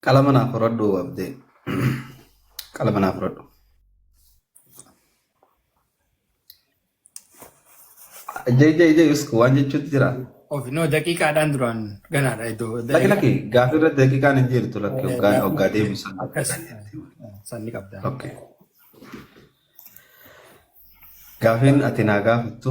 Qalama naaf horadhu abdee. Qalama naaf horadhu. Ijee ijee ijee isku waan jechuutti jira. Of no daqiiqaadhaan duraan ganaadha iddoo. Lakki lakki gaaffii irratti daqiiqaan hin jirtu lakki hoggaa hoggaa deebisan. Akkas sanni qabda. Okay. Gaafiin ati naa gaafattu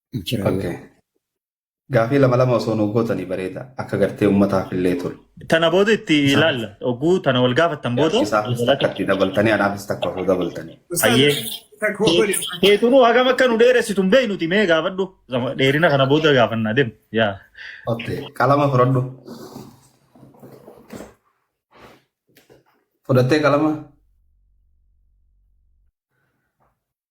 Jira Okay. garuu. Gaafii lama lama osoo nuuf gootanii bareeda. Akka gartee uummataaf illee tolu. Tana booda itti Isaa. ilaalla. Oguu tana wal gaafattan booda. Gaafii isaafis takka itti dabaltanii anaafis takka osoo dabaltanii. Hayyee. Keetunuu hagam akka nu dheeressitu hin beeknuti mee gaafadhu. Gama- Dheerina kana booda gaafannaa deemu. Yaa. Okay. Qalama fudhadhu. Fudhattee qalama?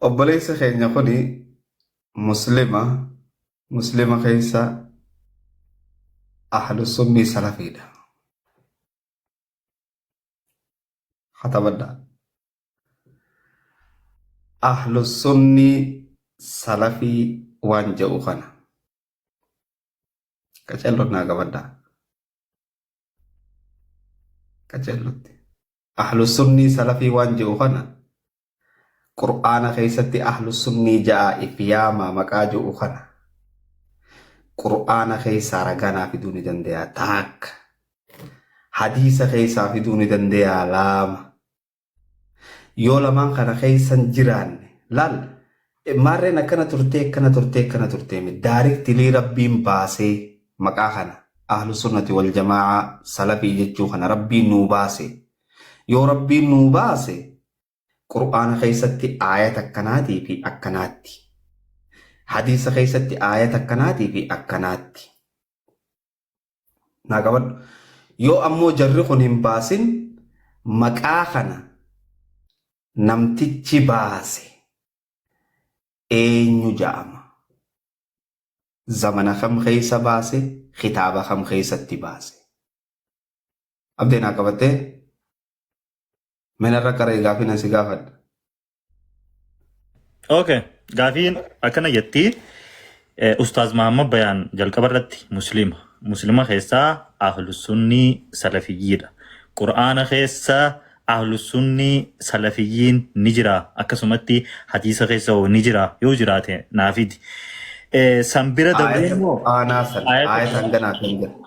Obboleessi keenya kun muslima muslima keessa ahlu sunnii salafiidha. Hatabadhaa. Ahlu sunnii salafii waan jedhu kana. Qacelloon naa qabadhaa. Qacellotti. Ahlu sunnii salafii waan jedhu kana Qur'aana keessatti ahlu sunnii ja'a if yaamaa maqaa ju'u kana Qur'aana keessaa ragaa naa fiduu ni dandeeyaa taakka hadiisa keessaa fiduu ni dandeeyaa laama yoo lamaan kana keessan jiraanne laal maarreen akkana turtee akkana turtee akkana turtee mi daariktilii rabbiin baasee maqaa kana ahlu sunnati wal jamaa'a salafii jechuu kana rabbiin nuu baase yoo rabbiin nuu baase Qur'aana keessatti aayata akkanaatii fi akkanaatti. Hadiisa keessatti aayata akkanaatii fi akkanaatti. Naa qabadhu. Yoo ammoo jarri kun hin baasin maqaa kana namtichi baase eenyu ja'ama? Zamana kam keessa baase? Kitaaba kam keessatti baase? Abdee naa qabattee? Mena irra qaree gaafii nan si gaafadha. Okay. Gaafiin akkana jetti. Eh, Ustaaz Mahammad Bayaan jalqaba irratti Muslima. Muslima keessaa Ahlusunnii Salafiyyiidha. Qur'aana keessa Ahlusunnii Salafiyyiin ni jira. Akkasumatti hadiisa keessa hoo ni jira. Yoo jiraate naafidi. Eh, San bira dabree Aayata immoo Qur'aanaa san Aayata aayata hanganaati hin jedhu.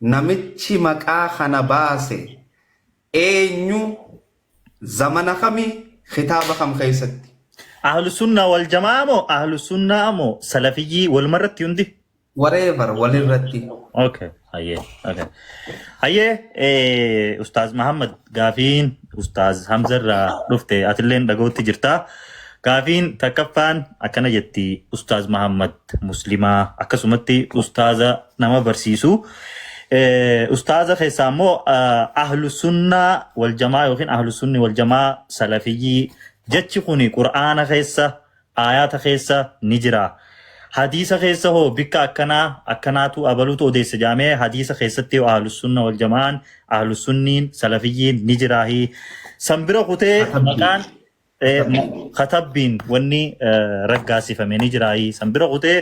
Namichi maqaa kana baase eenyu? Zamana kami? Kitaaba kam keessatti? Ahlusunnaa wal jama'aa moo ahlusunnaa moo salafiyyii waluma irratti hundi? Whatever walirratti. Okay, hayyee. Okay. Hayyee eh, Ustaaz Mahammad gaafiin Ustaaz Hamza irraa dhufte atilleen dhaga'utti jirta. Gaafiin takkaffaan akkana jetti Ustaaz Mahammad Muslimaa akkasumatti Ustaaza nama barsiisu. Eh, Ustaaza keessaa immoo ah, ahlu sunnaa wal jamaa yookiin ahlu sunni wal jamaa salafiyyii jechi kuni qur'aana keessa aayaata keessa ni jira. Hadiisa keessa hoo bikka akkanaa akkanaatu abaluutu odeessa jaamee hadiisa keessatti hoo ahlu sunna wal jamaan ahlu sunniin salafiyyiin ni jiraahi. San bira kutee Akkamti. maqaan katabbiin wanni raggaasifame ni jiraayii san bira kutee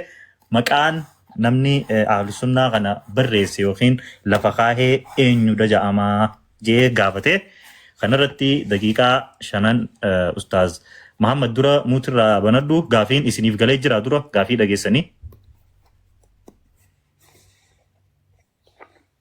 maqaan namni ahlusunnaa kana barreesse yookiin lafa kaahee eenyudha ja'amaa jee gaafate kanarratti daqiiqaa shanan ustaaz Muhammad dura muutirraa banadhu gaafiin isiniif galee jira dura gaafii dhageessanii.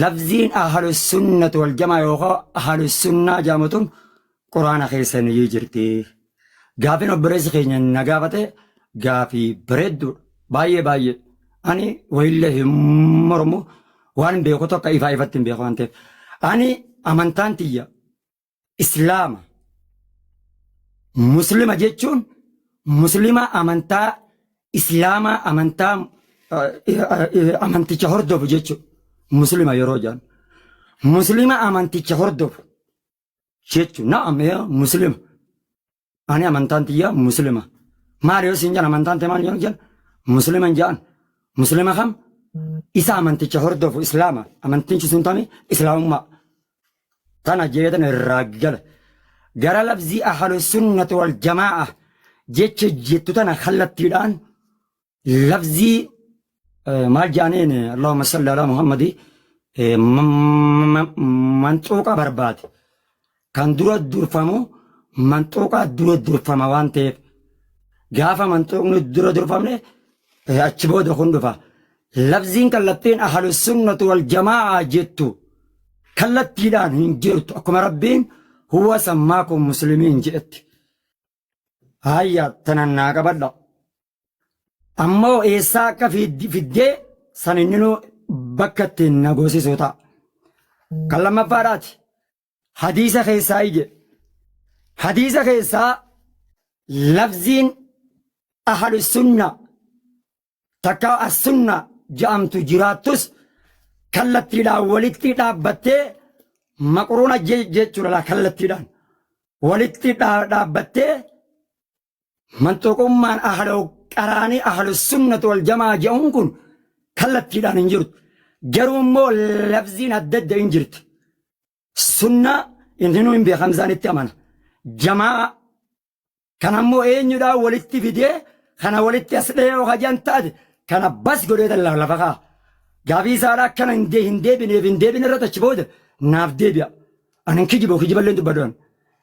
Lafziin ahlusunnat waljamaa yookaan ahlusunnaa jaamatun quraana keessa ni jirti. Gaafin obboleessi keenya na gaafate gaafii bareedduudha. Baay'ee baay'ee. Ani wayillee hin mormu waan beeku tokko ifaa ifatti hin beeku waan ta'eef. Ani amantaan tiyya Islaama. Muslima jechuun muslima amantaa Islaamaa amantaa amanticha hordofu jechuudha. Muslima yeroo jedhan. Muslima amanticha hordofu jechuudha. Na'am muslima. ani amantaan tiyya muslima maal yoo siin jedhan amantaan tee maal yoo jedhan muslima hin jedhan muslima kam isa amanticha hordofu islaama amantichi sun tami islaamummaa tana jeetan irraa gala gara labzii ahlu sunnati wal jamaa'a jecha jettu tana kallattiidhaan lafzii eh, maal jaaniin Allahumma salli ala Muhammadi eh, m- m- manxuuqa barbaade kan dura durfamu manxuuqaa dura durfama waan ta'eef gaafa manxuuqni dura durfamne eh, achi booda kun dhufa lafziin kallattiin ahlu sunnatu wal jamaa jettu kallattiidhaan hin jirtu akkuma rabbiin huwa sammaakum muslimiin jedhetti. Hayya tanan naa qabadha. Ammoo eessaa akka fid- fiddee san inninuu bakka ittiin na goosisuu ta'a. Kan lammaffaadhaati. Hadiisa keessaa ije. Hadiisa keessaa labziin ahlu sunna takka as sunna ja'amtu jiraattus kallattiidhaan walitti dhaabbattee maqruuna je- jechuudha laa kallattiidhaan walitti dhaa- dhaabbattee Manxuqummaan ahlul qaraanii ahlus sunnat wal jamaa ja'uun kun kallattiidhaan hin jirtu. Garuu immoo labziin adda adda hin jirti. Sunnaa inninuu hin beeka Hamzaan itti amana. Jamaa kan ammoo eenyudhaa walitti fidee kana walitti as dhee yoo hajaan taate kana bas godhee tan lafa kaa. Gaafii isaadhaa akkana hin dee- hin deebineef hin deebine irratti achi booda naaf deebi'a. Ani hin kijibu kijiballee hin dubbadhu ani.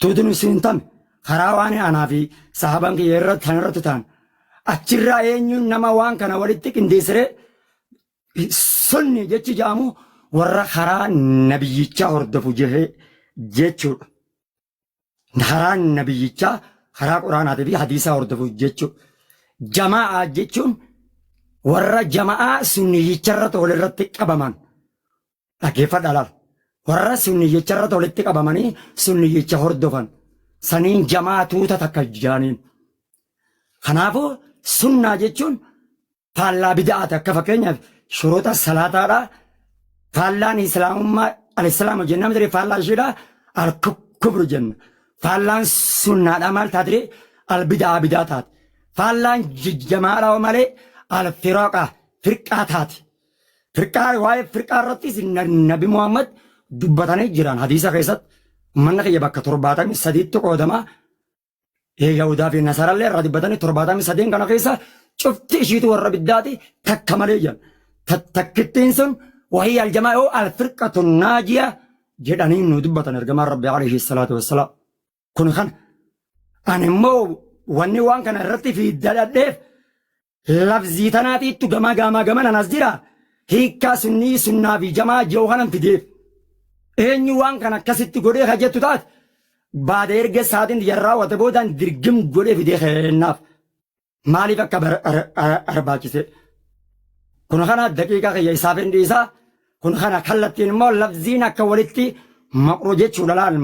Tuuti nu siin tame karaa waan anaa fi sahaban kiyya irra tan irratti taan achirraa eenyuun nama waan kana walitti qindeessiree sunni jechi ja'amu warra karaa nabiyyichaa hordofu jehee jechuudha. Karaa nabiyyichaa karaa quraanaatii fi hadiisaa hordofu jechuudha. Jama'aa jechuun warra jama'aa sunniyicharratti walirratti qabaman Dhaggeeffadhaa laala. Warra sunniyyicha irratti walitti qabamanii sunniyyicha hordofan saniin jamaa tuuta takka jaaniin. Kanaafuu sunnaa jechuun faallaa bida'aati akka fakkeenyaaf shuruuta salaataadha. Faallaan islaamummaa alislaama jenna miti faallaa ishiidha alkubru jenna. Faallaan sunnaadha maal taatire albidaa bidaa taate. Faallaan jamaadha malee alfiraqa firqaa taate. Firqaa waa'ee firqaa irrattis Nabi Muhammad dubbatanii jiran hadiisa keessatti manna kiyya bakka torbaatamii sadiitti qoodama. Yahudaa fi Nasarallee irraa dubbatanii torbaatamii sadeen kana keessa cufti ishiitu warra biddaati takka malee jedhan. Takkittiin sun wahii aljamaa yoo alfirqatu naajiya jedhanii nu dubbatan ergamaan Rabbi alayhi salaatu wassalaam. Kun kana. Ani immoo wanni waan kana irratti fi dadhadheef lafzii tanaatiittu gamaa gaamaa gaman anas jira hiikkaa sunnii sunnaa fi jamaa jiru kanan fideef. Eenyu waan kana akkasitti godhee ka jettu taate baada erga saatiin tiyya raawwate boodaan dirgim godhee fidee kennaaf. maaliif akka barbaachise kun kana daqiiqaa kiyya isaaf hin dhiisa kun kana kallattiin immoo labziin akka walitti maqru jechuu dhalaan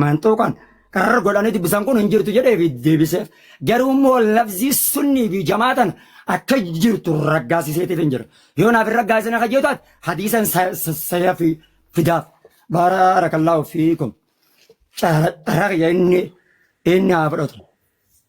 manxuuqan qarar godhanii dubbisan kun hin jirtu jedhee fi deebiseef garuu immoo labzii sunnii fi jamaatan akka jirtu raggaasiseetiif hin jira yoo naaf hin raggaasine akka jiru taate hadiisan saya fi fidaaf baarakallaahu fiikum carraa kiyya inni inni haa fudhatu.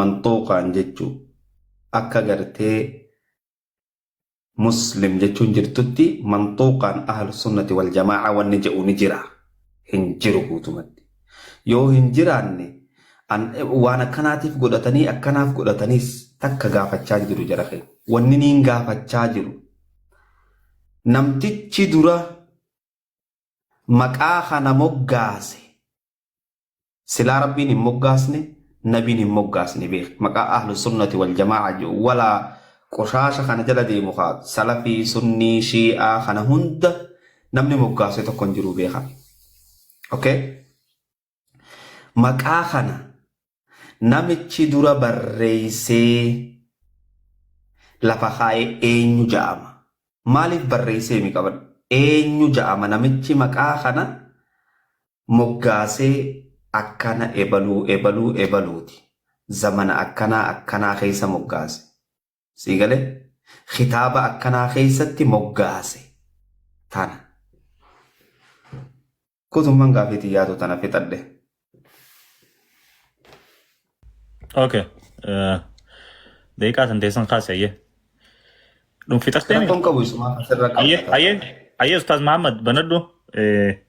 manxuuqaan jechuu akka gartee muslim jechuun jirtutti manxuuqaan ahlu sunnati wal jamaa'a wanni jedhu ni jira hin jiru guutumatti yoo hin jiraanne waan akkanaatiif godhatanii akkanaaf godhataniis takka gaafachaa jiru jara kee wanni niin gaafachaa jiru namtichi dura maqaa kana moggaase silaa rabbiin hin moggaasne nabiin hin moggaasne beeki maqaa ahlu sunnati wal jamaa'a jiru walaa qoshaasha kana jala deemu ka salafii sunnii shii'aa kana hunda namni moggaasee tokko hin jiru beeka okay maqaa kana namichi dura barreeysee lafa kaa'e eenyu ja'ama Maaliif barreessee himi qaban? Eenyu ja'ama namichi maqaa kana moggaasee akkana ebaluu ebaluu ebaluuti zamana akkanaa akkanaa keessa moggaase. Sii galee? Kitaaba akkanaa keessatti moggaase. Tana. Guutummaan gaafii tiyyaatu tana fixadhe. Okay. eh, Daqiiqaa tan teessan kaasi ayyee. Dhun fixattee miti. Rakkoon qabu isumaa asirra Ayyee qabda. ayyee ayyee Ustaaz Muhammad banadhu eh,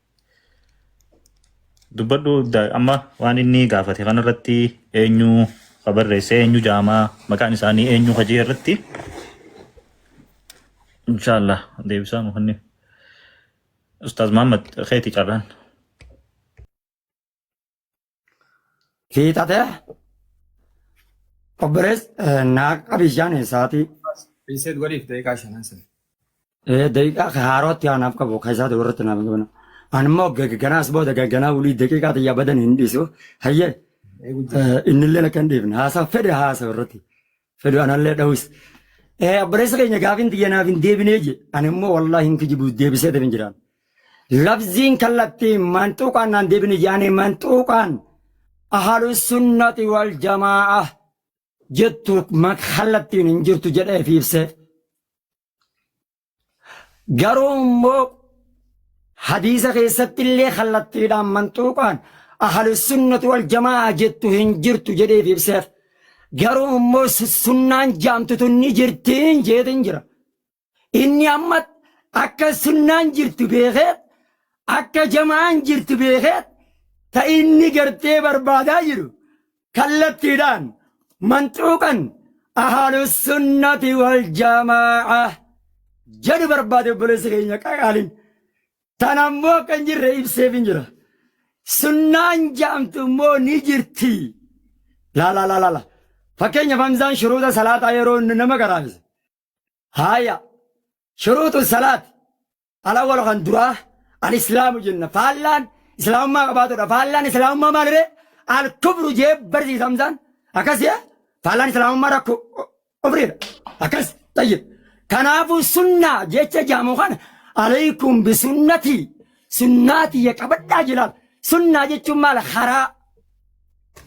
dubbadhu da- amma waan inni gaafate kanarratti eenyu ka barreesse eenyu jaamaa maqaan isaanii eenyu hajii irratti inshaallah deebisaa nu kenni. Ustaaz Muhammad keeti carraan. Fiixate obbolees naaqa bishaan eessaati Reset godhiif daqiiqaa shanan sana. daqiiqaa haarootti aanaaf qabu keessaa ta'u irratti naaf qabna. Ani immoo gagganaas booda gagganaa wulii daqiiqaa xiyyaa badan hin dhiisu. Hayyee Eegu jira. innillee akka hin dhiifne haasaa fedhe haasaa irratti. fedhu anallee dhawis. Eh, Obboleessa keenya gaafin tiyya naaf hin deebinee je ani immoo wallaahi hin kijibu deebisee deebin jiraan. Labziin kallattii manxuuqaan naan deebine jaane manxuuqaan ahalu sunnati wal jamaa'a jettu ma- kallattiin hin jirtu jedhee fi ibseef. Garuu immoo hadiisa keessatti illee kallattiidhaan manxuuqaan ahalussunnatu wal jamaa jettu hin jirtu jedheef ibseef. Garuu immoo sunnaan jaamtutu ni jirtiin jeetiin jira. Inni amma akka sunnaan jirtu beekeet akka jamaan jirtu beekeet ta inni gartee barbaadaa jiru kallattiidhaan manxuuqan ahaalussunnati wal jamaa'a jedhu barbaade obboleessa keenya qaqaaliin tan ammoo akka hin jirre ibseef hin jira sunnaan jaamtu immoo ni jirti laala laala laala fakkeenyaaf hamzaan shuruuta salaataa yeroo inni nama garaabise haaya shuruutu salaati Al awwalu kan duraa al islaamu jenna faallaan islaamummaa qabaatudha faallaan islaamummaa maaliree al kufru jee barsiisa hamzaan akkas jee faallaan islaamummaa rakku kufriidha akkas tayyib kanaafuu sunnaa jecha jaamu kana alaykum bisunnatii sunnaa tiyya qabadhaa jilaal sunnaa jechuun maal karaa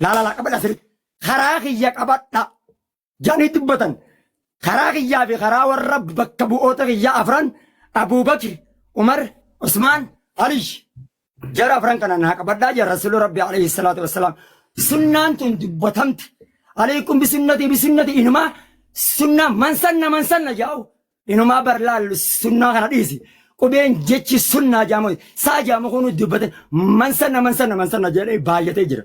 laalala qabadha sirri karaa kiyya qabadha jedhanii dubbatan. Karaa kiyyaa fi karaa warra bakka bu'oota kiyyaa afran Abuubakri, Umar, Usmaan, Aliy. Jara afran kana naa qabadhaa jedha Rasuulli Rabbi alayhi salaatu wassalaam. Sunnaan tun dubbatamte. Alaykum bisunnatii bisunnatii inumaa sunnaa mansanna mansanna jaa'u. Inumaa bar laallu sunnaa kana dhiisi. Qubeen jechi sunnaa jaamu saa jaamu kunu dubbatan mansanna mansanna mansanna jedhee baay'atee jira.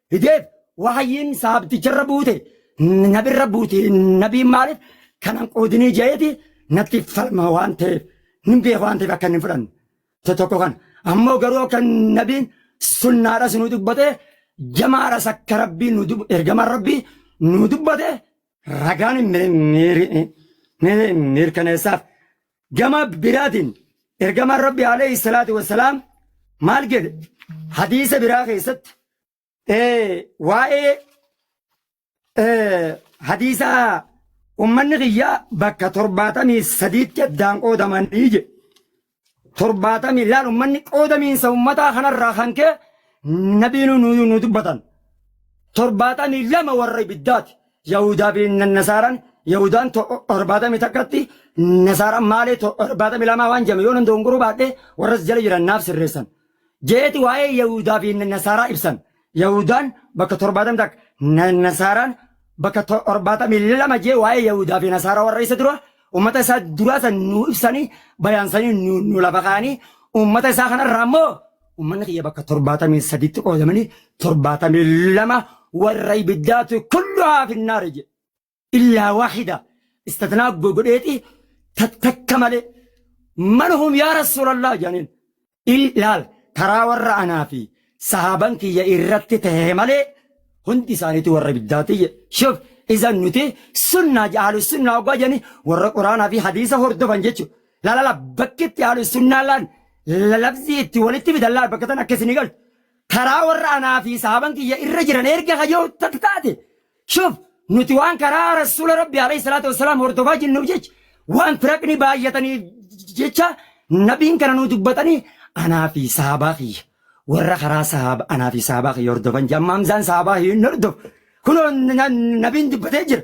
fideef wahayyiin saabticharra buute nabirra buute nabiin maaliif kanan qoodinii je'eeti natti falma waan ta'eef nin beeku waan ta'eef akka inni hin fudhanne isa tokko kana ammoo garuu akka nabiin sunnaadha si nu dubbate jamaadhas akka rabbii nu dub- ergamaan rabbii nu dubbate ragaan mir- mir- mir- mirkaneessaaf Gama biraatiin ergamaan Rabbi alayhi salaatu wassalaam maal jedhe hadiisa biraa keessatti waa'ee hadiisa ummanni kiyyaa bakka torbaatamii sadiitti addaan qoodamanii jedhe. Torbaatamii laal ummanni qoodamiinsa ummataa kanarraa kan ka'e nabiin nu dubbatan. Torbaatamii lama warra ibiddaati. Yahuudaa fi Nasaaraan Yahudaan to- torbaatamii takkatti Nasaaraan maalee to- torbaatamii lamaa waan jedhame yoo nan dogongoruu baadhe warra si jala jiran naaf sirreessan. Jeeti waa'ee Yahuudaa fi Nasaaraa ibsan. Yahudaan bakka torbaatamii takka Na- Nasaaraan bakka to- torbaatamii lama jee waa'ee Yahuudaa fi Nasaaraa warra isa dura uummata isaa duraa san nuu ibsanii bayaansanii nu nu lafa kaa'anii uummata isaa kanarraa immoo Ummanni kiyya bakka 73tti qoodamanii 72 warra ibiddaatu kulluhaa finnaari jedhe. Illaa waahida istatnaa godheeti takka malee man hum yaa rasuulallah jedhaniin. Ilaal karaa warra anaa fi sahaaban kiyya irratti tahe malee hundi isaaniitu warra ibiddaati jedhe. Shuf izan nuti sunnaa ahlu sunnaa oggaa jedhanii warra quraanaa fi hadiisa hordofan jechuudha. Laala la bakki itti ahlu sunnaa laan labzii itti walitti fidan laal bakka tan akka isinii galtu karaa warra anaa fi sahaban kiyya irra jiran erga kajoo takka taate shuf nuti waan karaa rasuula rabbi alayhi salaatu wassalaam hordofaa jirnuuf jecha waan firaqni baay'ataniif jecha nabiin kana nu dubbatanii anaa fi sahabaa kiyya warra karaa sahaaba anaa fi sahabaa kiyya hordofan jedha amma hamzaan sahabaa hin hordof kunoo na- nabiin dubbatee jira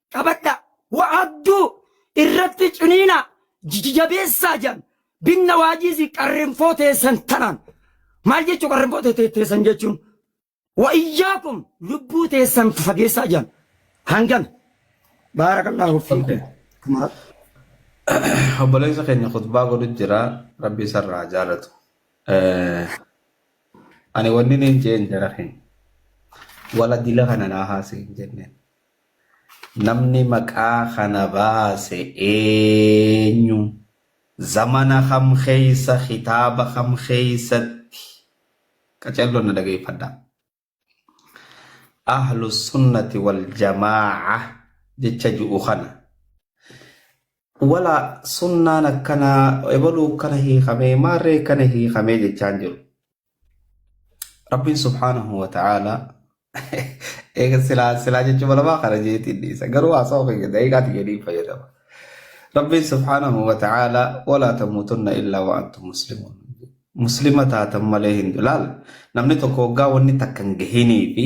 qabadha wa'aabduu irratti ciniina jijijabeessaa jedhan binna waajiisi qarrinfoo teessan tanaan maal jechuu qarrinfoo teessan jechuun wa'iyyaakum lubbuu teessan fageessaa jedhan hangana baarakallahu fiikum obboleessa keenya khutbaa godhu jira rabbi isarraa jaalatu ani wanni niin jeen jara keenya wala dila kana naa haasee hin jenneen Namni maqaa kana baase eenyu? Zamana kam keessa kitaaba kam keessatti? Qacelloon na dhageeffadhaa. Ahlussunnati waljamaa'a jecha ju'u kana. Wala sunnaan akkana ebaluu akkana hiikamee maarree akkana hiikamee jechaan jiru. Rabbiin subhaanahu wa ta'aalaa eega silaa silaa jechuudha lamaa kana jeetiin dhiisa garuu haasa'u keenya daqiiqaati jedhiin fayyadama. Rabbiin subhaanahu wa ta'aalaa walaa tamuutunna illaa wa antum muslimuun. Muslima taatan malee hin laal namni tokko waggaa wanni takka hin gahinii fi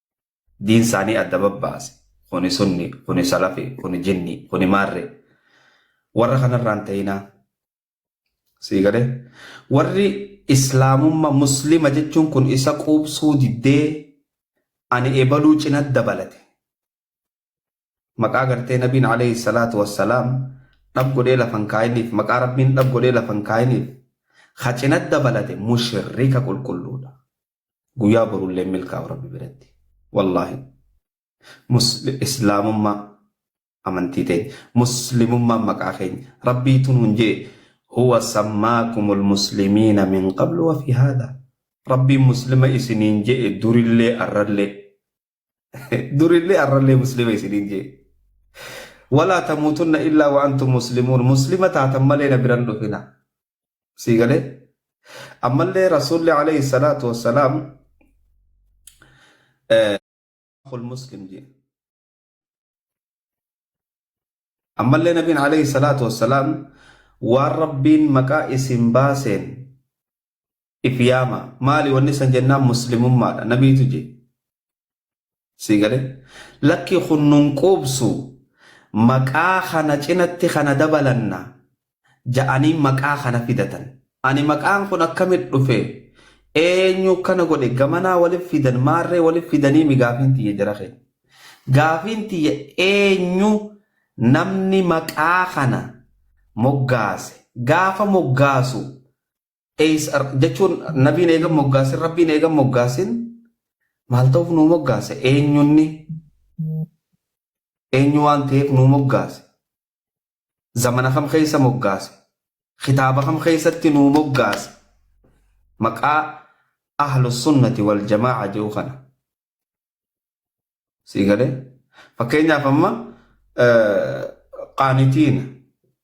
diin isaanii adda babbaase kuni sunni kuni salafi kuni jinni kuni maarre warra kanarraan ta'inaa sii galee warri islaamumma muslima jechuun kun isa quubsuu diddee ani ebaluu cina dabalate maqaa gartee nabiin alayhi salaatu wassalaam dhab godhee lafan kaayiniif maqaa rabbiin dhab godhee lafan kaayiniif ha cina dabalate mushrika qulqulluudha Guyyaa borullee hin milkaa'u rabbi biratti. Wallaahi. Musli- Islaamummaa amantii teenya. Muslimummaan maqaa keenya. Rabbiitu nuun jee. Huwa sammaakumul muslimiina min qablu wa fi haadha. Rabbiin muslima isiniin je'e durillee arrallee. Durillee arrallee muslima isiniin jee. Walaa tamuutunna illaa wa antum muslimuun muslima taatan malee na biran dhufina. Sii galee? Ammallee Rasuulli alayhi salaatu wassalaam akul muslim jee. Ammallee nabiin alayhi salaatu wassalaam waan rabbiin maqaa isin baaseen if yaama maali wanni san jennaan muslimummaadha nabiitu je sii gale lakki kun nun quubsu maqaa kana cinatti kana dabalanna ja'anii maqaa kana fidatan ani maqaan kun akkamit dhufe eenyu kana godhe gamanaa walif fidan maarree walif fidanii mi gaafiin tiyya jara kee gaafiin tiyya eenyu namni maqaa kana moggaase gaafa moggaasu Eys jechuun nabiin eegan moggaasin rabbiin eegan moggaasin maal ta'uuf nuu moggaase eenyunni eenyu waan ta'eef nuu moggaase zamana kam keessa moggaase kitaaba kam keessatti nuu moggaase maqaa ahlu sunnati wal jamaa'a jedhu kana Sii galee? Fakkeenyaaf amma qaanitiina,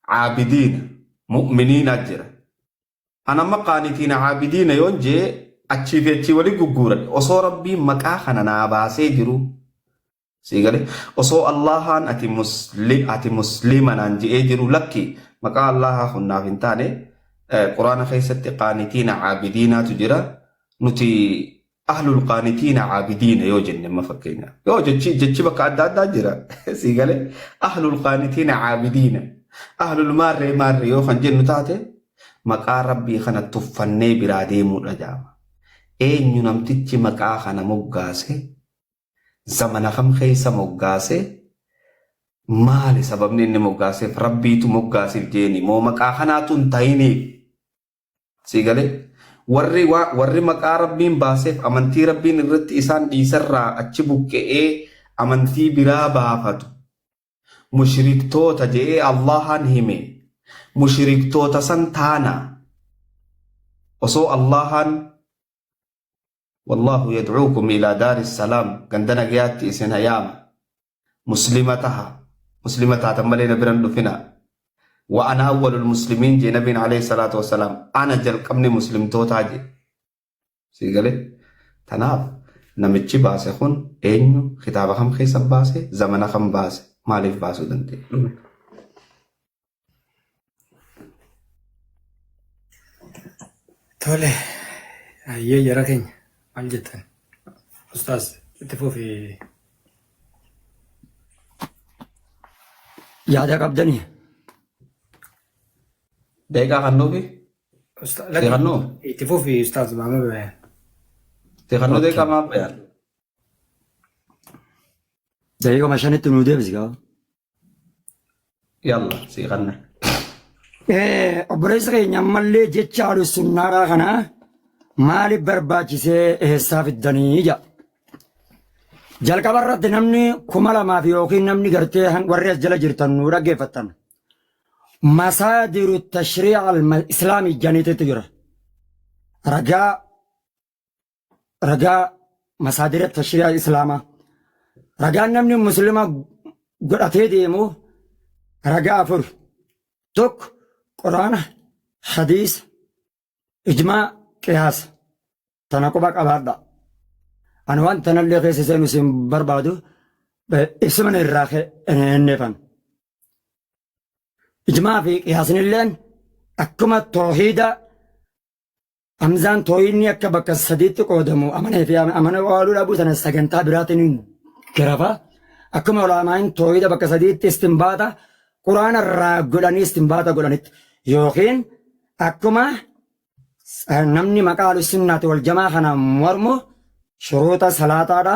caabidiina, mu'miniina jira. An amma qaanitiina, caabidiina yoon jee achii fi achii walii gugguuran osoo rabbiin maqaa kana naa baasee jiru. Sii galee? Osoo Allahaan ati muslim ati muslima naan je'ee jiru lakki maqaa Allahaa kun naaf hin taane quraana keessatti qaanitiina, caabidiinaatu jira. Nuti Ahlul qaanitiina caabidiina yoo jenne amma fakkeenyaaf. Yoo jechi jechi bakka adda addaa jira. Sii galee ahlul qaanitiina caabidiina. Ahlul maarree maarree yoo kan jennu taate maqaa rabbii kana tuffannee biraa deemuudha jaama. Eenyu namtichi maqaa kana moggaase zamana kam keessa moggaase maali sababni inni moggaaseef rabbiitu moggaasiif jeeni moo maqaa kanaatu hin ta'iniif Sii galee? Warri, waa, warri maqaa Rabbiin baaseef amantii Rabbiin irratti isaan dhiiserraa achi buqqe'ee amantii biraa baafatu, mushriktoota je'ee Allaahaan hime. Mushriktoota san taana. Osoo Allaahaan, Wallaahu yad'uukum ilaa daari salaam, ganda nagayaatti isin ha yaama. muslima taha muslima taatan malee na biran dhufina wa ana awwalul muslimiin jee nabiin alayhi salaatu wassalaam ana jalqabni muslimtootaa jee sii galee tanaaf namichi baase kun eenyu kitaaba kam keessa baase zamana kam baase maaliif baasuu danda'e Tole, ayyee jara keenya maal jettan? Ustaaz itti fufi. Yaada qabdanii? Deeqaa kan nuufi? Usta- Itti kannuu? Itti fufi Ustaaz Maamud Bayaan. Itti kannuu Okay. deeqaa maaf bayaan? Daqiiqama shanitti nuu deebisi gaa. Yalla sii kanna. Eh, obboleessa keenya ammallee jecha alusunnaaraa kana maaliif barbaachisee eessaa fiddanii jedha. Jalqaba irratti namni kuma lamaaf yookiin namni gartee han- warri as jala jirtan nu dhaggeeffattan. Masaadiru tashrii'a al-islaamii janiititu jira. Ragaa ragaa masaadira tashrii'a islaamaa ragaan namni muslima godhatee deemu ragaa afur tokko quraana hadiisa ijmaa qiyaasa tana quba qabaadha ani waan tanallee keessa seenu isin barbaadu ibsiman irraa hinneefan ijmaa fi qiyaasinilleen akkuma toohiida Hamzaan tooyinni akka bakka sadiitti qoodamu amanee fi amana waaluu dhabuu sana sagantaa biraatiin garafa. Akkuma ulaamaan tooyida bakka sadiitti istinbaata quraana irraa godhanii istinbaata godhanitti yookiin akkuma namni maqaa alusunnaati wal jamaa kana mormu shuruuxa salaataadha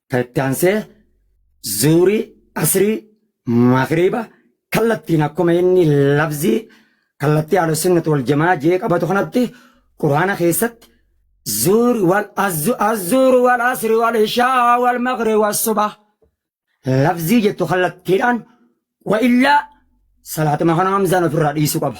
Kan itti aansee zuurii, asrii, magriiba kallattiin akkuma inni lafzii kallattii ahlusunnat wal jamaa jee qabatu kanatti quraana keessatti zuur wal azzuur wal asri wal ishaa wal magri wal suba lafzii jettu kallattiidhaan wa illaa salaatuma kana hamzaan ofirraa dhiisu qaba.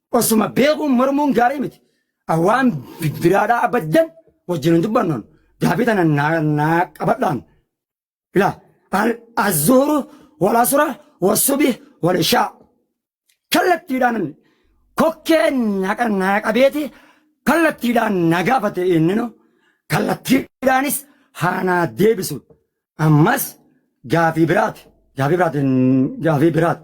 Osuma beekuun mormuun gaarii miti. Waan biraadhaa abaddan wajjin hin dubbannoon gaaffii tana naa qabadhaan. Ila azzuuru walasura wasubi walishaa. Kallattiidhaan kokkee naa qabeeti kallattiidhaan na gaafate inninu kallattiidhaanis haanaa deebisu. Ammas gaaffii biraati. Gaaffii biraati. Gaaffii biraati.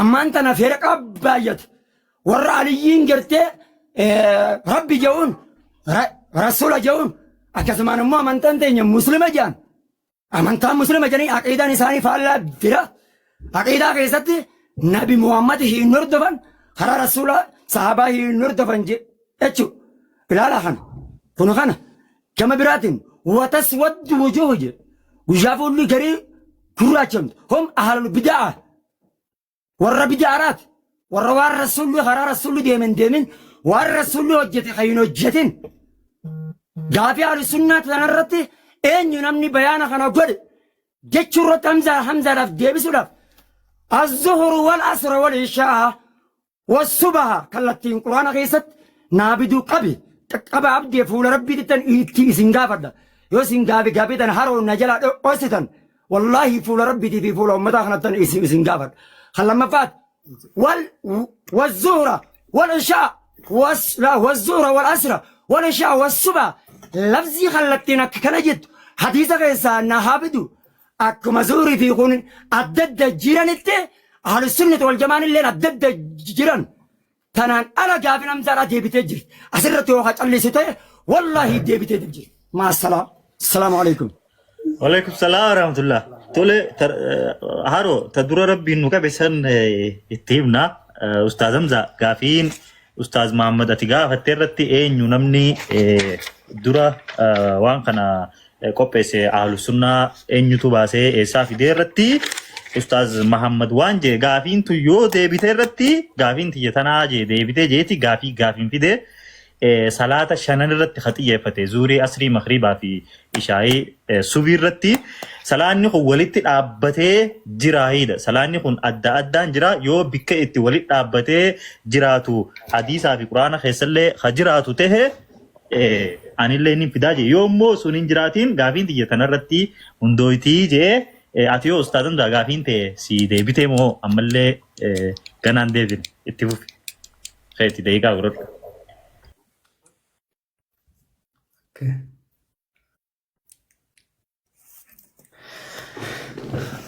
Ammaan tana firqaa baayyate. Warra aliyyiin gartee rabbi ja'uun rasuula ja'uun akkasumaan immoo amantaan teenya muslima ja'an. Amantaan muslima ja'anii aqiidaan isaanii faallaa bira. Aqiidaa keessatti nabi Muhammad hin hordofan karaa rasuulaa sahaabaa hin hordofan jechuudha. Ilaala kana. Kun kana. Gama biraatiin wataswaddu wujuuh jedhe guyyaa fuulli garii gurraachamtu hom ahalul bida'aa warra bida'aaraati warra waan rasuulli karaa rasuulli deemen deemin waan rasuulli hojjete kan hin hojjetin gaafii ahlusunnaa tanarratti eenyu namni bayaana kana godhe jechuu irratti hamzaa hamzaadhaaf deebisuudhaaf azzuhuru wal asra wal ishaa Wassubaha kallattiin quraana keessatti naa biduu qabi qaqqaba abdee fuula rabbii dhittan itti isin gaafadha yoo isin gaafi gaafii tan haroo na jalaa dho'ossitan wallaahi fuula rabbiitii fi fuula ummataa kanattan isin isin gaafadha kan lammaffaat wal wazzuhra wal ishaa was la wazzuhra wal asra wal ishaa was suba lafzii kallattiin akka kana jettu hadiisa keessaa na haa bidu Akkuma zuhrii fi kun adda adda jiranitti ahlusunnati wal jamaan illeen adda adda jiran tanaan ala gaafin hamzaadhaa deebitee jirti asirratti yoo ka callisu ta'e wallaahi deebitee dib jirti maasalaam assalaamu alaikum Waalaikum salaam wa rahmatullah. Tole tar- eh, haroo ta dura rabbiin nu qabe san eh, itti himna. Eh, Ustaaz Hamza gaafiin Ustaaz Mahammad ati gaafatte irratti eenyu namni dura waan kana qopheesse ahlu sunnaa eenyutu baasee eessaa fidee irratti Ustaaz Mahammad waan jee gaafiin tu yoo deebite irratti gaafiin tiyya tanaa jee deebite jeeti gaafii gaafiin fide salaata shanan irratti ka xiyyeeffate zuurii asrii makriibaa fi ishaayii Subhii irratti salaanni kun walitti dhaabbatee jiraahiidha. Salaanni kun adda addaan jira yoo bikka itti walitti dhaabbatee jiraatu hadiisaa fi quraana keessallee ha jiraatu ta'e anillee inni fidaa jee yoo immoo sun hin jiraatiin gaafiin tiyya tanarratti hundooytii jee ati yoo ustaazan daa gaafiin ta'e si deebitee moo ammallee ganaan deebin itti fufi keetti deeqaa godhadhu. Okay.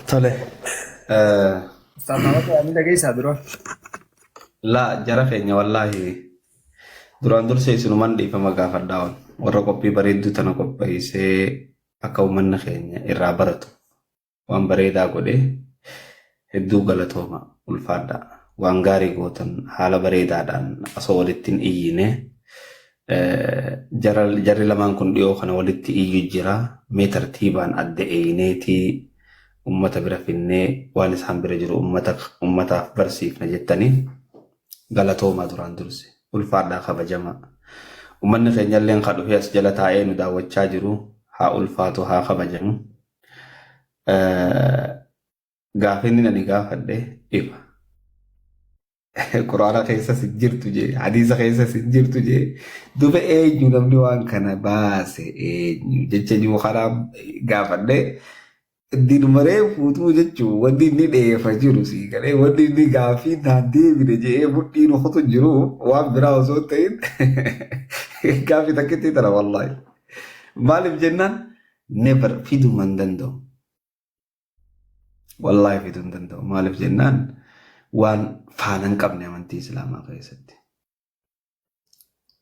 Tole. Eh, Saafamata waan dhageessaa dura. Laa jara keenya wallaahi duraan dursee isinuman dhiifama gaafadhaa ol. Warra qophii bareedduu tana qopheessee akka uummanni keenya irraa baratu. Waan bareedaa godhe hedduu galatooma ulfaadha waan gaarii gootan haala bareedaadhaan osoo walitti hin iyyine jarri lamaan kun dhiyoo kana walitti iyyu jira mee tartiibaan adda eeyneetii ummata bira finnee waan isaan bira jiru ummataaf barsiifna jettanii galatoomaa duraan durse ulfaadhaa kabajamaa ummanni keenyalleen ka dhufee as jala taa'ee nu daawwachaa jiru haa ulfaatu haa kabajamu. Gaafiin ani gaafadhe ifa. Quraana keessas hin jirtu jee, hadiisa keessas hin jirtu jee. Duba eenyu namni waan kana baase eenyu jecha jiru kanaa gaafadhe. Dinumaree fuutuu jechuun wanti inni dheefa jiru sii galee wanti inni gaaffii naan deebine jedhee mudhii rukutu jiru waan biraa osoo hin ta'in gaaffii takkitti tana wallaahi. Maaliif jennaan never fiduu man danda'u. Wallaahi fiduu hin danda'u. Maaliif jennaan waan faana hin qabne amantii Islaamaa keessatti.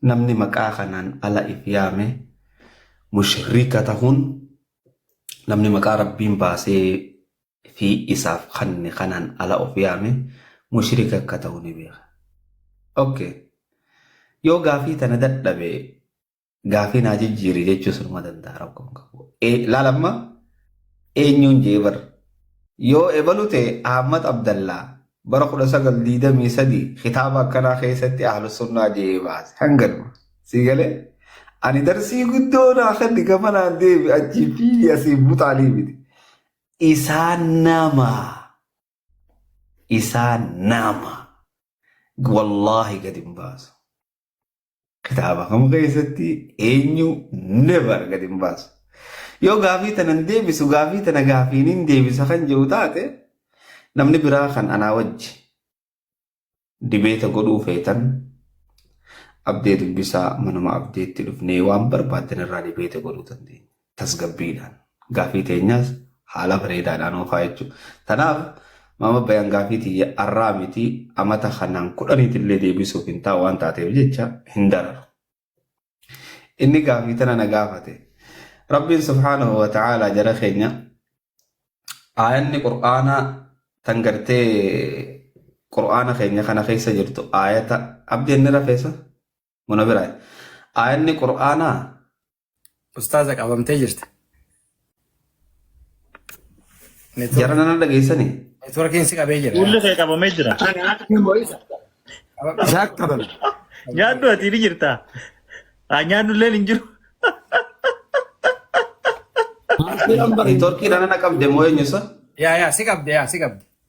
Namni maqaa kanaan ala if yaame mushrika tahuun namni maqaa rabbiin baasee fi isaaf kanne kanaan ala of yaame mushrika akka ta'u ni beeka. Okay. Yoo gaafii tana dadhabe Gaafii naa jijjiiri jechuu sunuma danda'a rakkoon qabu. Laal amma eenyuun jee bar. Yoo ebalu ta'e Ahmad Abdallaa bara 1923 kitaaba akkanaa keessatti ahlu sunnaa jee baase. Hanganuma. Sii galee? Ani darsii guddoo naa kenni gama naan deebi achii fiigi asii buxaalii miti. Isaan nama. Isaan nama. Wallaahi gadi hin baasu. Kitaaba kam keessatti eenyu never gad hin baasu. Yoo gaafii tana hin deebisu gaafii tana gaafiin hin deebisa kan jedhu taate namni biraa kan anaa wajji dibeeta godhuu feetan abdee dubbisaa manuma abdeetti dhufnee waan barbaaddan irraa dibeeta godhuu dandeenya. tasgabbiidhaan gaaffii teenyaas haala bareedaadhaan oofaa jechuu. Tanaaf maama bayaan gaaffii tiyya arraa miti amata kanaan kudhaniitillee deebisuuf hin taa'u waan taateef jecha hin dararu. Inni gaaffii tana na gaafate. Rabbiin subhaanahu wa ta'aalaa jara keenya aayanni qur'aanaa tan gartee qur'aana keenya kana keessa jirtu aayata abdeenni rafeessa Muna biraa. Aayanni Qur'aanaa Ustaaza qabamtee jirti. jara nana dhageessanii? Networkiin si qabee jira. Fuulli kee qabamee jira. Isaa qabame. Nyaaddu ati ni jirta. Haa nyaaddu illee hin jiru. Networkii nana qabde moo eenyusa? Yaa yaa si qabde yaa si qabde.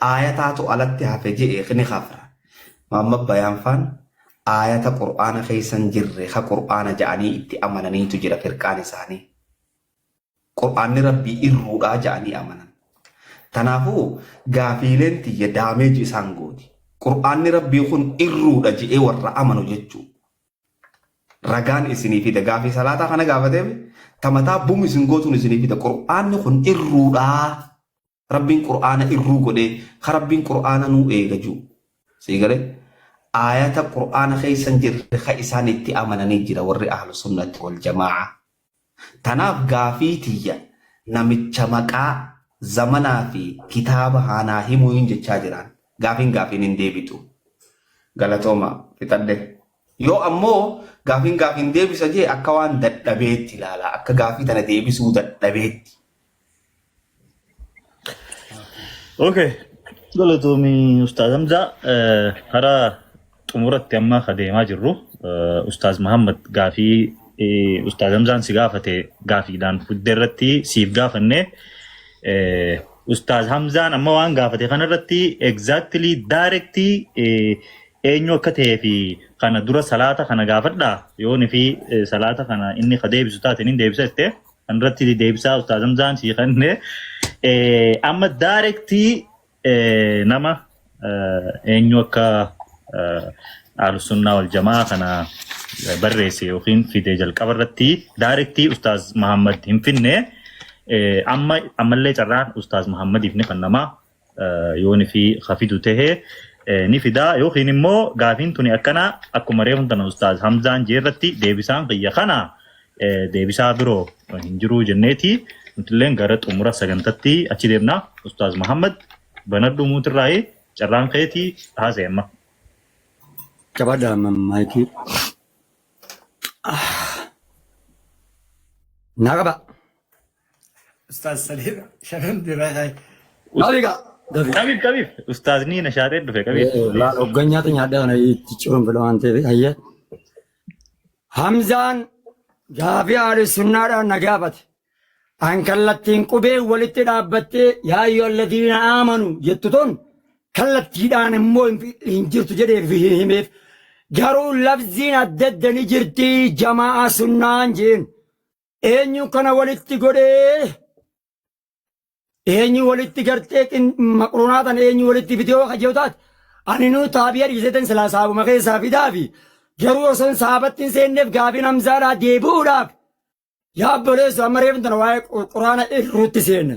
Aayataatu alatti hafe je'e kni kafra. Muhammad Bayaan faan aayata Qur'aana keessa hin jirre ka Qur'aana ja'anii itti amananiitu jira firqaan isaanii. Qur'aanni Rabbii irruudhaa ja'anii amanan. Tanaafuu gaafiileen tiyya damage isaan gooti. Qur'aanni Rabbii kun irruudha je'ee warra amanu jechuu. Ragaan isinii fida. Gaafii salaataa kana gaafateef tamataa bum isin gootuun isinii fida. Qur'aanni kun irruudhaa. Rabbiin qur'aana irruu godhee ka Rabbiin qur'aana nuu eega juu sii gale aayata qur'aana keessan jirre ka isaan itti amananii jira warri ahlu sunnati wal jamaa'a tanaaf gaafii tiyya namicha maqaa zamanaa fi kitaaba haa naa himuu hin jechaa jiraan gaafiin gaafiin hin deebitu galatooma fixadhe yoo ammoo gaafiin gaafiin deebisa jee akka waan dadhabeetti ilaala akka gaafii tana deebisuu dadhabeetti Okay. Galatoomii Ustaaz Hamzaa eh, karaa xumuratti amma ka deemaa jirru eh, Ustaaz Muhammad gaafii eh, Ustaaz Hamzaan si gaafate gaafiidhaan fudde irratti siif gaafanne eh, Ustaaz Hamzaan amma waan gaafate kana irratti exactly direct eh, eenyu akka ta'ee fi kana dura salaata kana gaafadha yoon fi eh, salaata kana inni ka deebisu taate inni deebisa jettee Anratti deebisaa Ustaaz Hamzaan sii kenne amma daarektii nama eenyu akka Ahlussunnaa wal jamaa kana barreesse yookiin fide jalqaba irratti daarektii Ustaaz Mahammad hin finne amma ammallee carraan Ustaaz Mahammadiif ni kennama. yoon fi hafidu tahe ni fidaa yookiin immoo gaafiin tuni akkana akkuma reefun tana ustaaz Hamzaan jee irratti deebisaan kiyya kana deebisaa biroo hin jiruu jenneeti nutilleen gara xumura sagantatti achi deemna ustaaz Muhammad banadhu muutirraayi carraan keeti haasa'e amma. Jabadha maayikii. Naa qaba. Ustaaz Saliim shanan biraa kaa'e. Maali gaa? Gafi. Qabiif qabiif. Ustaazni na shaatee dhufe qabiif. Laal hoggan nyaata nyaadhaa kana itti ciruun fedha waan ta'eef hayyee. Hamzaan gaafii haali sunnaadhaan na gaafate. An kallattiin qubee walitti dhaabbattee yaa ayyuhal ladiina aamanu jettu tun kallattiidhaan immoo hin fi- hin jirtu jedhee fi hin himeef. Garuu labziin adda adda ni jirti jamaa sunnaan jeen. Eenyu kana walitti godhee eenyu walitti gartee qin- maqruunaa tan eenyu walitti fidee yoo kajjoo taate ani nuu taabiya dhiisetan silaa saabuma keessaa fidaa fi garuu osoo hin saabattiin seenneef gaafiin hamzaadhaa deebi'uudhaaf yaa obboleessu amma reefin tana waa'ee qu- quraana irruutti seenne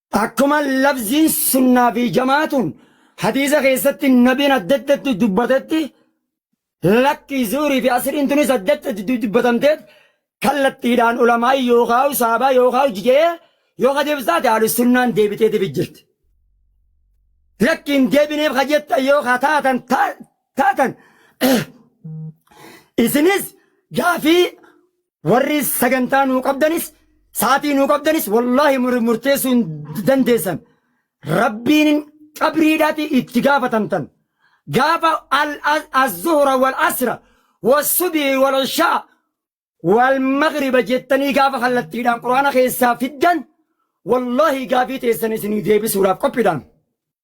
Akkuma lafziin sunnaa fi jamaatun hadiisa keessatti nabiin adda addatti dubbatetti lakkii zuurii fi asriin tunis adda addatti dubbatamteef kallattiidhaan ulamaa'ii yookaan saabaa yookaan jijee yoo kadeef taate haalu sunnaan deebiteetiif jirti. Lakkiin deebineef kajettan yoo ka taatan taatan isinis gaafii Warri sagantaa nuu qabdanis sa'atii nuu qabdanis wallaahi mur- murteessuu hin dandeessan. Rabbiin qabriidhaati itti gaafatamtan. Gaafa al- az- az-zuhra wal asra wal subii wal ishaa wal magriba jettanii gaafa kallattiidhaan quraana keessaa fiddan wallaahi gaafii teessan isinii deebisuudhaaf qophiidhaan.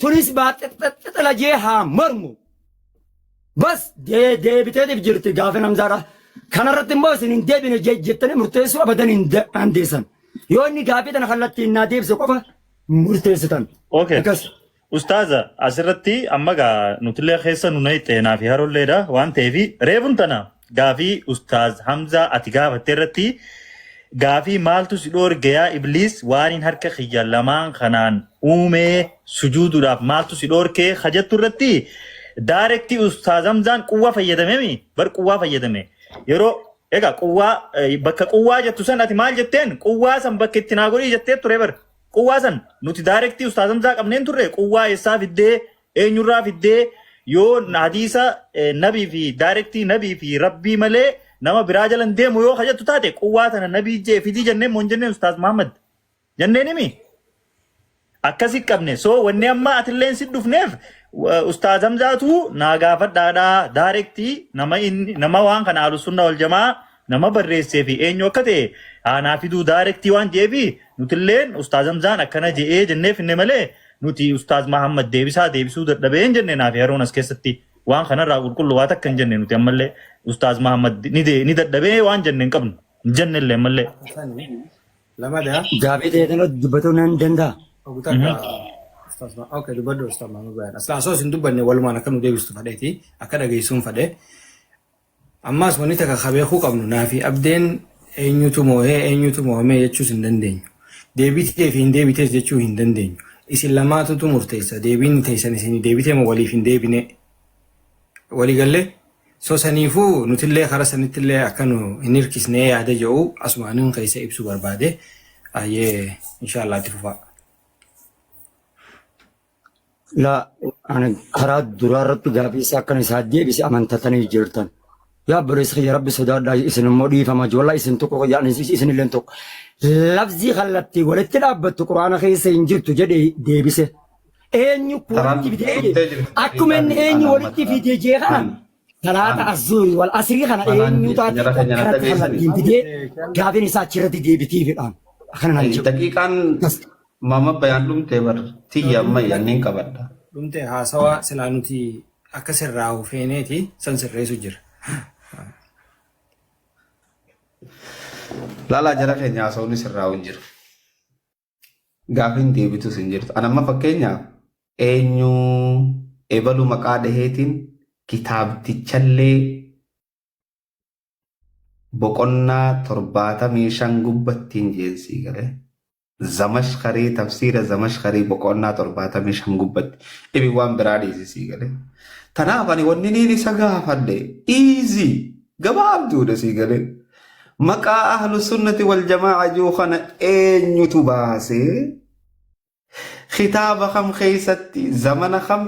Tunis baaxixxixxixila jee haa mormu. Bas deebiteetiif jirti gaafin hamzaadha. Kanarratti immoo isin hin deebine jettanii murteessuu abadan hin dandeessan. Yoo inni gaafii tana kallattiin naa deebise qofa murteessitan. Okay. Akkas. Ustaaza asirratti amma gaa nutillee keessa nu nayxeenaa fi harolleedha waan ta'eef reebun tana Gaafii ustaaz hamzaa ati gaafatte irratti gaafii maaltu si dhoorge yaa ibliis waaniin harka kiyya lamaan kanaan uumee sujuuduudhaaf maaltu si dhoorke ka jettu irratti daarektii ustaaz hamzaan quwwa fayyadamemi bar quwwaa fayyadame yeroo egaa quwwaa bakka quwwaa jettu san ati maal jetteen quwwaa san bakka itti naa godhii jettee ture bar quwwaa san nuti daarektii ustaaz hamzaa qabneen turre quwwaa eessaa fiddee Eenyurraa fiddee yoo hadiisa nabii fi daayirektii nabii fi rabbii malee nama biraa jala hin deemu yoo hajattu taate quwwaa tana nabii jee fidii jenneen moo hin jenneen ustaaz Muhammad jenneen himi akkasi qabne soo wanni amma atilleen si dhufneef wa- ustaaz Hamzaatu naa gaafadhaadha daayirektii nama inni nama waan kana ahlu sunna wal jamaa Nama barreessee fi eenyu akka ta'e haa naa fiduu daarektii waan je'eefi nutilleen Ustaaz Hamzaan akkana je'ee jennee finne malee nuti Ustaaz Mahaammad Deebisaa deebisuu dadhabee hin jenne naa fi Haruun as keessatti waan kanarraa qulqullu waa takka hin jenne nuti ammallee Ustaaz Mahaammad ni dadhabee waan jenne hin qabnu hin jennellee ammallee. Lamadaa. Gaafii ta'e kana dubbatuu nan danda'a. Ogu takka Ustaaz Mahaammad. Okay dubbadhu Ustaaz Mahaammad Bayan. Aslaan osoo isin dubbanne walumaan akka nu deebistu fadheeti akka dhageessuun fadhe. Ammaas wanni takka ka beekuu qabnu naafi abdeen eenyutu moohee eenyutu moohamee jechuus hin dandeenyu. Deebitee fi hin deebitees jechuu hin dandeenyu. Isin lamaatutu murteessa deebiin teessan isinii deebitee moo waliif hin deebinee. Walii gallee? So saniifuu nutillee kara sanittillee akka nu hin hirkisnee yaada jedhu asumaanin keessa ibsuu barbaade. Ayyee inshaallaa itti fufaa. Laa ani karaa duraa irratti gaafii isaa akkan isaa deebise amantatanii jirtan. Yaa obboleessa kiyya rabbi sodaadhaa isin immoo dhiifama jiru. Walaa isin tokko kiyya anis isin illeen tokko. Labsii kallattii walitti dhaabbattu quraana keessa hin jirtu jedhee deebise. Eenyu walitti fidee jedhe. Akkuma inni eenyu walitti fidee jee kana Salaata azuuri wal asrii kana eenyu taate karatti kallattiin fidee gaafiin isaa achirratti deebitii fidhaan. Akkana naan jedhu. Daqiiqaan mama bayaan dhumtee bar tiyya amma yanneen qabadha. Dhumtee haasawaa silaa nuti akka sirraa hufeeneeti san sirreessu jira. Laalaa jara keenya haasawni sirraa hin jiru. Gaafiin deebitus hin jirtu. An amma fakkeenyaaf eenyu ebalu maqaa dhaheetiin kitaabtichallee boqonnaa torbaatamii shan gubbattiin jeensii galee zamashkarii tafsiira zamashkarii boqonnaa torbaatamii shan gubbatti dhibi waan biraa dhiisisii galee. Tanaaf ani wanni niin isa gaafadhe iizii gabaabduudha sii galee. Maqaa ahlu sunnati wal jamaa'a jiru kana eenyutu baase? Kitaaba kam keessatti? Zamana kam